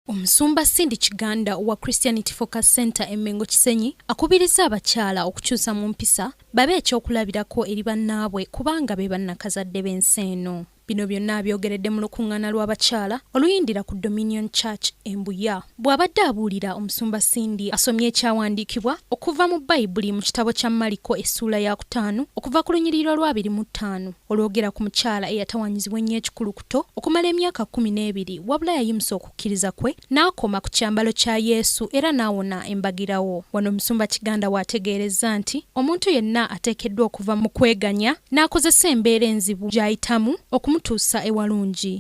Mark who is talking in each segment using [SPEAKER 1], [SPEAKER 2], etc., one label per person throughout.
[SPEAKER 1] Omusumba Cindy Kiganda wa Christianity Focus Center e Mengo Kisenyi akubirizza abakyala okukyusa mu mpisa babe ekyokulabirako eri bannaabwe kubanga be bannakazadde b'ensi eno. Bino byonna abyogeredde mu lukuŋŋaana lw'abakyala oluyindira ku Dominion Church e Mbuya. Bw'abadde abuulira, omusumba Cindy asomye ekyawandiikibwa okuva mu Bayibuli mu kitabo kya Maliko essuula ya kutaano okuva ku lunyiriri lwa abiri mu ttaano olwogera ku mukyala eyatawanyizibwa ennyo ekikulu Egupto okumala emyaka kkumi n'ebiri, wabula yayimusa okukkiriza kwe n'akoma ku kyambalo kya Yesu era n'awona embagirawo. Wano Omusumba Kiganda w'ategeerezza nti omuntu yenna ateekeddwa okuva mu kweganya n'akozesa embeera enzibu gy'ayitamu okumutuusa ewalungi.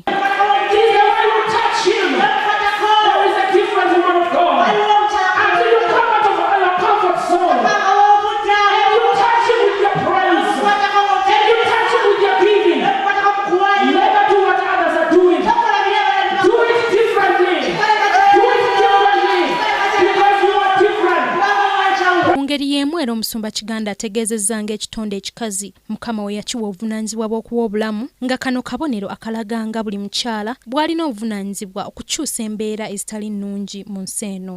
[SPEAKER 1] ngeri y'emu era omusumba kiganda ategeezezza ng'ekitonde ekikazi mukama we yakiwa obuvunaanyizibwa bw'okuwa obulamu nga kano kabonero akalaga nga buli mukyala bw'alina obuvunaanyizibwa okukyusa embeera ezitali nnungi mu nsi eno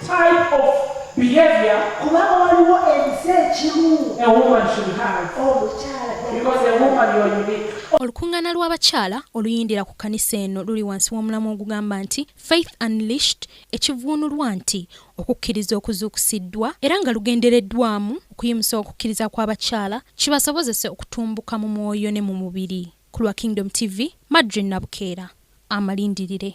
[SPEAKER 2] type of behavior kubanga waliwo ensi ekimu a woman should have omukyala because a woman you are unique olukuŋŋaana lw'abakyala
[SPEAKER 1] oluyindira ku kkanisa eno luli wansi w'omulamwa ogugamba nti faith unlished ekivuunulwa nti okukkiriza okuzuukusiddwa era nga lugendereddwamu okuyimusa okukkiriza kw'abakyala kibasobozese okutumbuka mu mwoyo ne mu mubiri ku lwa kingdom tv madri nabukeera amalindirire